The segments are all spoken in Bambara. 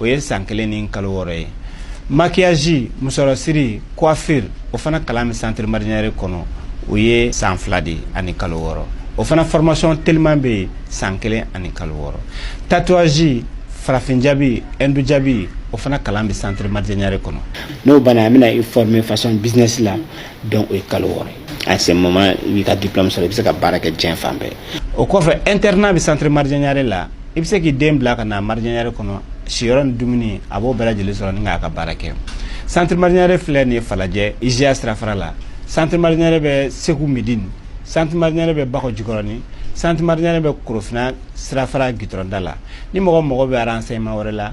o ye san kelen ni kalo wɔɔrɔ ye maquillage musɔrɔsiri coiffure o fana kalan bɛ centre marjanyare kɔnɔ o ye san fila de ani kalo wɔɔrɔ o fana formation teliman bɛ yen san kelen ani kalo wɔɔrɔ tatouage farafin jabi hindu jabi o fana kalan bɛ centre marjanyare kɔnɔ n'o banna an bɛna i former façon business la donc o ye kalo wɔɔrɔ ye à ce moment i b'i ka diplôme sɔrɔ i bɛ se ka baara kɛ diɲɛ fan bɛɛ o kɔfɛ internat bɛ centre marjanyare la i bɛ se k'i den bila ka na marjanyare kɔnɔ siyɔrɔ ni dumuni a b'o bɛɛ lajɛlen sɔrɔ ni k'a ka baara kɛ centre marjanyare filɛ nin ye falajɛ IJA sirafara la centre marjanyare bɛ segu midini centre marjanyare bɛ bakɔ jikɔrɔni centre marjanyare bɛ korofina sirafara gitɔrɔnda la ni mɔgɔ mago bɛ renseignement wɛrɛ la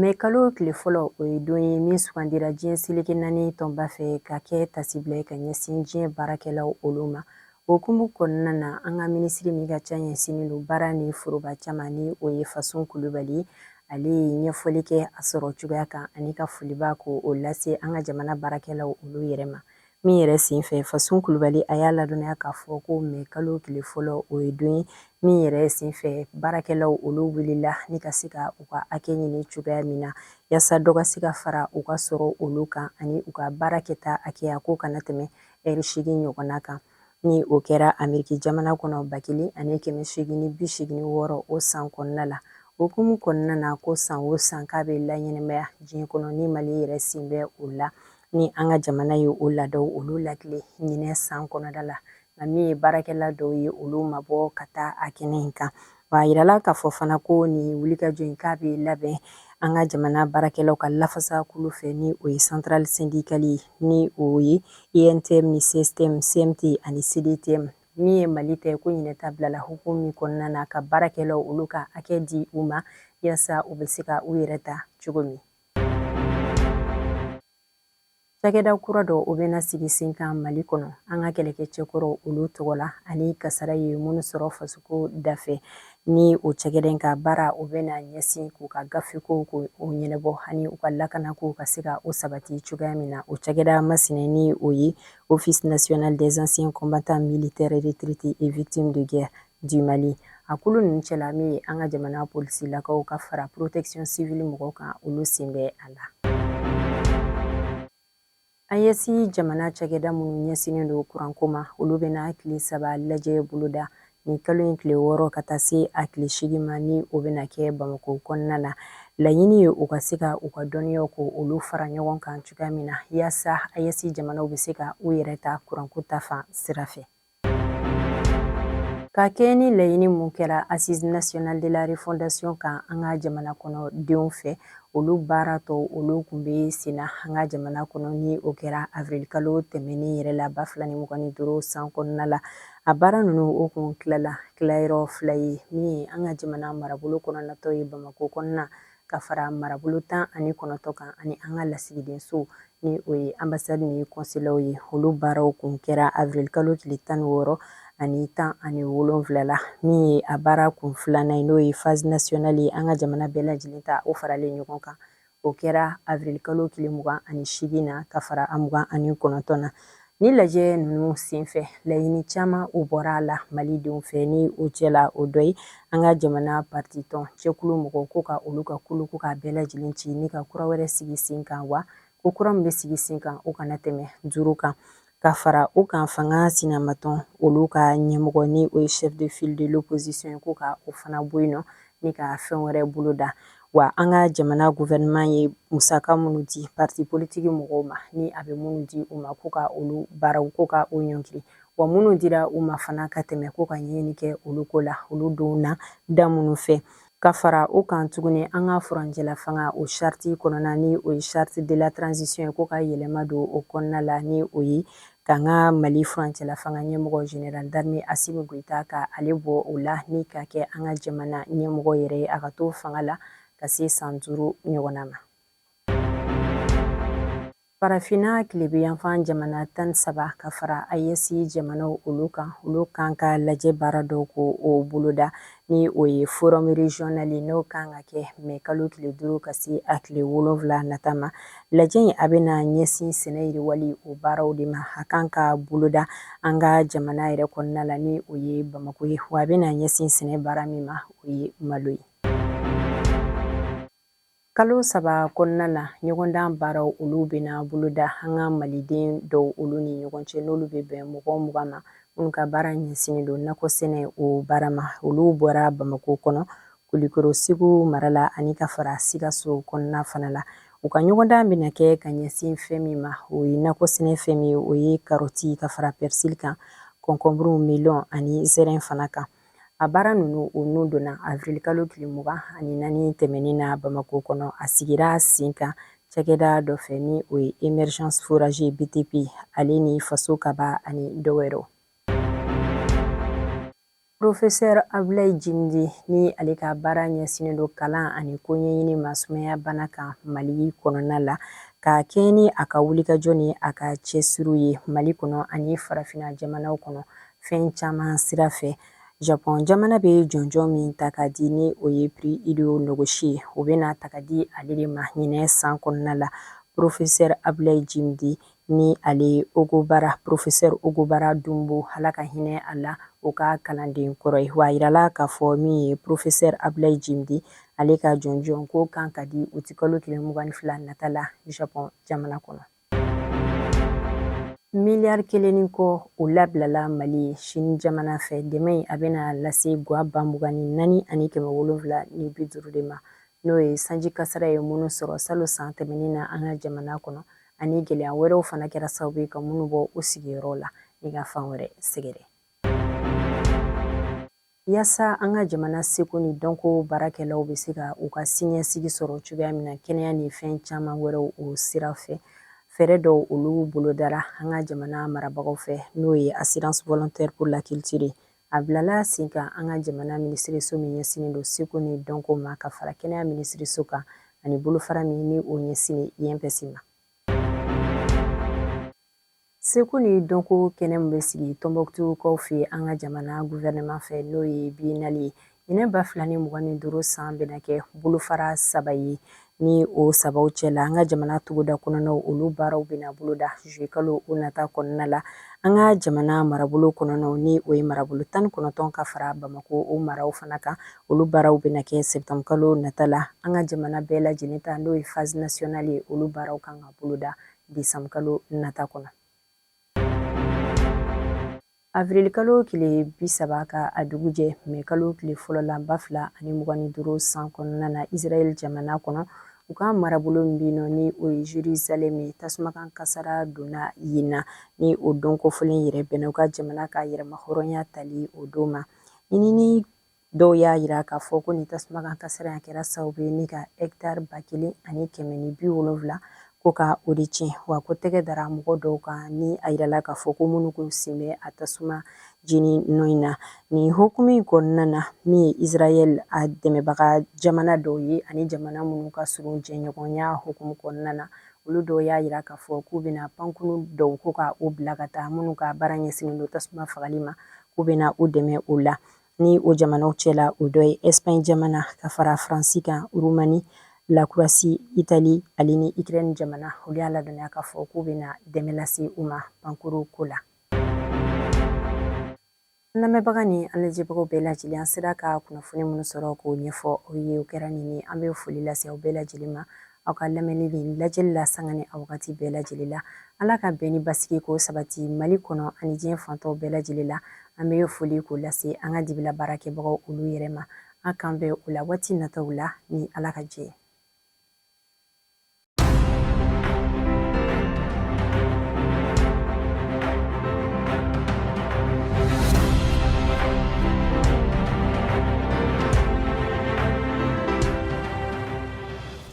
Mɛ kalo tile fɔlɔ o ye don ye min sugandira diɲɛ seleke naani tɔnba fɛ ka kɛ taasibila ye ka ɲɛsin diɲɛ baarakɛlaw olu ma o hukumu kɔnɔna na an ka minisiri min ka ca ɲɛsinnen don baara ni foroba ca ma ni o ye Fasun kulubali ale ye ɲɛfɔli kɛ a sɔrɔ cogoya kan ani ka foliba ko o lase an ka jamana baarakɛlaw olu yɛrɛ ma min yɛrɛ senfɛ Fasun kulubali a y'a ladɔnniya k'a fɔ ko mɛ kalo tile fɔlɔ o ye don ye min yɛrɛ senfɛ baarakɛlaw olu wulila ni ka se ka u ka hakɛ ɲini cogoya min na yaasa dɔ ka se ka fara u ka sɔrɔ olu kan ani u ka baara kɛta hakɛya k'o kana tɛmɛ ɛri segin ɲɔgɔnna kan ni o kɛra ameriki jamana kɔnɔ ba kelen ani kɛmɛ segin ni bi segin ni wɔɔrɔ o san kɔnɔna la o hukumu kɔnɔna na ko san o san k'a bɛ laɲɛnɛmaya diɲɛ kɔnɔ ni mali yɛrɛ sen bɛ o la ni an ka jamana ye o laadaw olu latilen ɲinɛ san kɔnɔda la nka min ye baarakɛla dɔw ye olu ma bɔ ka taa a kɛnɛ in kan wa a yirala k'a fɔ fana ko nin wulikajɔ in k'a bɛ labɛn an ka jamana baarakɛlaw ka lafasa kulu fɛ ni o ye centrale syndicale ye ni o ye untm ni cstm cmt ani cdtm min ye mali ta ye ko ɲinɛ ta bilala hukumu min kɔnɔna na ka baarakɛlaw olu ka hakɛ di u ma yaasa u bɛ se ka u yɛrɛ ta cogo min Cakɛda kura dɔ o bɛna sigi sen kan Mali kɔnɔ an ka kɛlɛkɛcɛkɔrɔw olu tɔgɔ la ani kasara ye minnu sɔrɔ fasoko dafɛ ni o cakɛda in ka baara o bɛna ɲɛsin k'u ka gafekow k'o ɲɛnabɔ ani u ka lakanakow ka se ka o sabati cogoya min na o cakɛda masina ni o ye Office national des anciens combattants militaires retraités et victimes de guerre du Mali a kulu ninnu cɛla min ye an ka jamana polisilakaw ka fara protection civile mɔgɔw kan olu sen bɛ a la AES jamana cakɛda minnu ɲɛsinnen don kuranko ma olu bɛna tile saba lajɛ boloda nin kalo in tile wɔɔrɔ ka taa se a tile segin ma ni o bɛna kɛ bamako kɔnɔna na laɲini ye u ka se ka u ka dɔnniyaw k'olu fara ɲɔgɔn kan cogoya min na yaasa AES jamanaw bɛ se ka u yɛrɛ ta kuranko ta fan sira fɛ Ka kɛɲɛ ni laɲini mun kɛra Assise nationale de la refondation kan an ka jamana kɔnɔ denw fɛ, olu baara tɔw olu kun bɛ sen na an ka jamana kɔnɔ ni o kɛra avril kalo tɛmɛnen yɛrɛ la ba fila ni mugan ni duuru san kɔnɔna la. A baara ninnu o kun tilala tilayɔrɔ fila ye min ye an ka jamana marabolo kɔnɔna ta o ye Bamakɔ kɔnɔna ka fara marabolo tan ani kɔnɔntɔn kan ani an ka lasigidenso ni o ye ambassade ni konsulaw ye olu baaraw kun kɛra avril kalo tile tan ni wɔɔrɔ ani tan ani wolonfila la min ye a baara kun filanan ye n'o ye phase nationale ye an ka jamana bɛɛ lajɛlen ta o faralen ɲɔgɔn kan o kɛra avril kalo tile mugan ani seegin na ka fara a mugan ani kɔnɔntɔn na Ni lajɛ ninnu senfɛ laɲini caman o bɔra a la malidenw fɛ ni o cɛla o dɔ ye an ka jamana parti tɔn cɛkulu mɔgɔ ko ka olu ka kulu ko k'a bɛɛ lajɛlen ci ni ka kura wɛrɛ sigi sen kan wa ko kura min bɛ sigi sen kan o kana tɛmɛ duuru kan ka fara o kan fanga sinamatɔn olu ka ɲɛmɔgɔ ni o ye chef de file de l'opposition ye ko ka o fana bɔ yen nɔ ni ka fɛn wɛrɛ boloda wa an ka jamana gouvernement ye musaka minnu di parti politique mɔgɔw ma ni a bɛ minnu di u ma ko ka olu baaraw ko ka o ɲɔngiri wa minnu dira u ma fana ka tɛmɛ ko ka ɲɛɲini kɛ olu ko la olu donna da minnu fɛ ka fara o kan tuguni an ka furancɛla fanga o charte kɔnɔna ni o ye charte de la transition ye ko ka yɛlɛma don o kɔnɔna la ni o ye k'an ka Mali furancɛla fanga ɲɛmɔgɔ général d'armée Assimi Goïta ka ale bɔ o la ni ka kɛ an ka jamana ɲɛmɔgɔ yɛrɛ ye a ka to fanga la ka se san duuru ɲɔgɔnna ma. Farafinna tilebinyanfan jamana tan saba ka fara AES jamanaw olu kan olu kan ka lajɛ baara dɔw k'o boloda ni o ye forum régional n'o kan ka kɛ mɛ kalo tile duuru ka se a tile wolonwula nata ma lajɛ in a bɛna ɲɛsin sɛnɛ yiriwali o baaraw de ma a kan ka boloda an ka jamana yɛrɛ kɔnɔna la ni o ye Bamakɔ ye wa a bɛna ɲɛsin sɛnɛ baara min ma o ye malo ye Kalo saba kɔnɔna la ɲɔgɔndan baaraw olu bɛna boloda an ka maliden dɔw olu ni ɲɔgɔn cɛ n'olu bɛ bɛn mɔgɔ mugan ma minnu ka baara ɲɛsinnen don nakɔ sɛnɛ o baara ma olu bɔra Bamakɔ kɔnɔ Kulikoro Segu mara la ani ka fara Sikaso kɔnɔna fana la u ka ɲɔgɔndan bɛna kɛ ka ɲɛsin fɛn min ma o ye nakɔ sɛnɛ fɛn min o ye karɔti ka fara pɛrisili kan kɔnkɔnburu melɔn ani zɛrɛn fana kan a baara ninnu o n'u donna avril kalo tile mugan ani naani tɛmɛnen na Bamako kɔnɔ a sigira sen kan cakɛda dɔ fɛ ni o ye Emergence Forage BTP ale ni Faso Kaba ani dɔ wɛrɛw. Profesɛr Abulayi Djimdé ni ale ka baara ɲɛsinnen don kalan ani koɲɛɲini ma sumaya bana kan Mali kɔnɔna la ka kɛɲɛ ni a ka wulikajɔ ni a ka cɛsiriw ye Mali kɔnɔ ani farafina jamanaw kɔnɔ fɛn caman sira fɛ japɔn jamana bɛ jɔnjɔn min ta ka di ni o ye pri ido nɔgɔsi ye o bɛna ta ka di ale de ma ɲinɛ san kɔnɔna la porofesɛ abilayi jimdi ni ale ogobara porofesɛ ogobara dunbo Ala ka hinɛ a la o ka kalanden kɔrɔ ye wa a jirala k'a fɔ min ye porofesɛ abilayi jimdi ale ka jɔnjɔn ko kan ka di uti kalo tile mugan ni fila nata la japɔn jamana kɔnɔ miliyari kelen ni kɔ o labilala mali ye sini jamana fɛ dɛmɛ in a bɛna lase gwa ba mugan ni naani ani kɛmɛ wolonwula ni bi duuru de ma n'o ye sanji kasara ye minnu sɔrɔ salon san tɛmɛnen na an ka jamana kɔnɔ ani gɛlɛya wɛrɛw fana kɛra sababu ye ka minnu bɔ u sigiyɔrɔ la ni ka fan wɛrɛ sɛgɛrɛ Yaasa an ka jamana seko ni dɔnko baarakɛlaw bɛ se ka u ka siniɲɛsigi sɔrɔ cogoya min na kɛnɛya ni fɛn caman wɛrɛw o sira fɛ fɛɛrɛ dɔw olu bolodara an ka jamana marabagaw fɛ n'o ye assurance volontaire pour la culture a bilala sen kan an ka jamana minisiriso min ɲɛsinnen don seko ni dɔnko ma ka fara kɛnɛya minisiriso kan ani bolofara min ni o ɲɛsinnen INPS ma Seko ni dɔnko kɛnɛ min bɛ sigi Tombouctoukaw fɛ an ka jamana gouvernement fɛ n'o ye biennale ye ɲinɛ ba fila ni mugan ni duuru san bɛna kɛ bolofara saba ye ni o sabaw cɛla an ka jamana togoda kɔnɔnaw olu baaraw bɛna boloda juillet kalo o nata kɔnɔna la an ka jamana marabolo kɔnɔnaw ni o ye marabolo tan ni kɔnɔntɔn ka fara bamako o maraw fana kan olu baaraw bɛna kɛ septembre kalo nata la an ka jamana bɛɛ lajɛlen ta n'o ye phase nationale ye olu baaraw kan ka boloda desanburukalo nata kɔnɔ avirilikalo tile bi saba ka a dugujɛ mɛkalo tile fɔlɔ la ba fila ani mugan ni duuru san kɔnɔna na israɛl jamana kɔnɔ u ka marabolo min bɛ nɔ ni o ye jerusalem ye tasumakan kasara donna yen na ni o don kofɔlen yɛrɛ bɛnna u ka jamana ka yɛrɛmahɔrɔnya tali o don ma ɲinini Dɔw y'a jira k'a fɔ ko nin tasuma kan kasara a kɛra sababu ye ni ka ɛkitari ba kelen ani kɛmɛ ni bi wolonwula ko ka o de tiɲɛ wa ko tɛgɛ dara mɔgɔ dɔw kan ni a jirala k'a fɔ ko minnu tun sen bɛ a tasuma jeni nɔ in na nin hukumu in kɔnɔna na min ye israel a dɛmɛbaga jamana dɔw ye ani jamana minnu ka surun jɛɲɔgɔnya hukumu kɔnɔna na olu dɔw y'a jira k'a fɔ k'u bɛna pankurun dɔw ko ka u bila ka taa minnu ka baara ɲɛsinnen don tasuma fagali ma k'u bɛna u dɛmɛ o la ni o jamanaw cɛla o dɔ ye ɛsipaɲi jamana ka fara faransi kan urumani lakorowasi itali ale ni ikirɛni jamana olu y'a ladɔnniya k'a fɔ k'u bɛna dɛmɛ lase u ma pankurun ko la an lamɛnbaga ni an lajɛbagaw bɛɛ lajɛlen an sera ka kunnafoni minnu sɔrɔ k'o ɲɛfɔ aw ye o kɛra nin ye an bɛ foli lase aw bɛɛ lajɛlen ma aw ka lamɛnni ni lajɛli la sanga ni a wagati bɛɛ lajɛlen la ala ka bɛn ni basigi k'o sabati mali kɔnɔ ani diɲɛ fan tɔw bɛɛ lajɛlen la an bɛ foli k'o lase an ka dibila baarakɛbagaw olu yɛrɛ ma an k'an bɛn o la waati nataw la ni ala ka jɛ